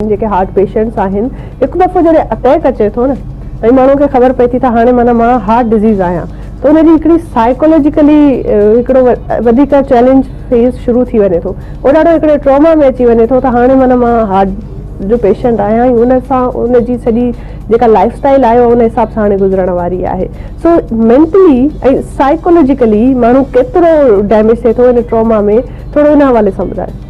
جيڪي heart patients آهن هڪ دفعو جڏهن اتيڪ اچي ٿو نه ۽ ماڻهو کي خبر پئي ٿي ته هاڻي معنيٰ مان هارٽ ڊزيز آهيان ته ان جي هڪڙي سائيڪولوجيڪلي هڪڙو وڌيڪ چئلينج فيز شروع ٿي وڃي ٿو هو ڏاڍو هڪڙي ٽراما ۾ اچي وڃي ٿو ته هاڻي معنيٰ مان هارٽ جو پيشنٽ آهيان ۽ ان سان ان جي سڄي جيڪا لائيف اسٽائيل آهي اها ان حساب سان هاڻي گذرڻ واري آهي سو مينٽلي ۽ سائيڪولوجيڪلي ماڻهو ڪيترو ڊيميج ٿئي ٿو ان ٽراما ۾ ٿورو ان حوالي سان ٻڌايو.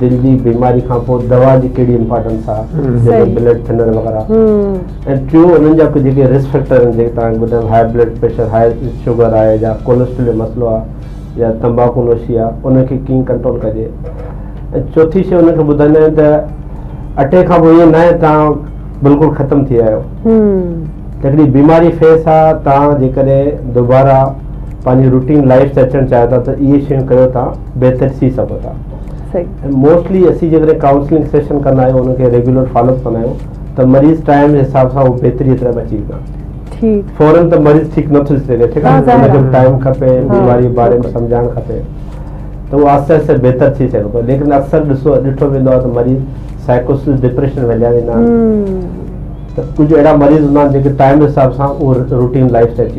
دل جي بيماري کان پوء دوا جي ڪهڙي امپارٽنس آ جيڪي بلڊ ٿنر وغيره ۽ ٽيون انهن جا ڪجهه جيڪي رسڪ فيڪٽر آهن جيڪي تان ٻڌايو high blood pressure high sugar آهي يا ڪولسٽرول جو مسئلو آ يا تمباڪو نوشي آ ان کي ڪيئن ڪنٽرول ڪجي ۽ چوٿي شيء ان کي ٻڌائيندا آهيون ته اٽيڪ کان پوء ائين ناهي تان بلڪل ختم ٿي آيو هڪڙي بيماري فيس آ تان جيڪڏهن دوباره پنهنجي روٽين لائف تي اچڻ چاهيو ٿا ته اهي شيون ڪريو تان بهتر ٿي سگهو ٿا موسٽلي اسين جيڪڏهن ڪائونسلنگ سيشن ڪندا آهيون ان کي ريگولر فالو اپ ڪندا آهيون ته مريض ٽائم جي حساب سان هو بهتري طرف اچي ويندا فورن ته مريض ٺيڪ نه ٿي سگهي ٺيڪ آهي ان کي ٽائم کپي بيماري باري ۾ سمجهائڻ کپي ته اهو آهستي آهستي بهتر ٿي سگهي ٿو ليڪن اڪثر ڏسو ڏٺو ويندو آهي ته مريض سائيڪوسس ڊپريشن ويليا ويندا آهن ته ڪجهه اهڙا مريض هوندا آهن جيڪي ٽائم حساب سان اهو روٽين لائف تي اچي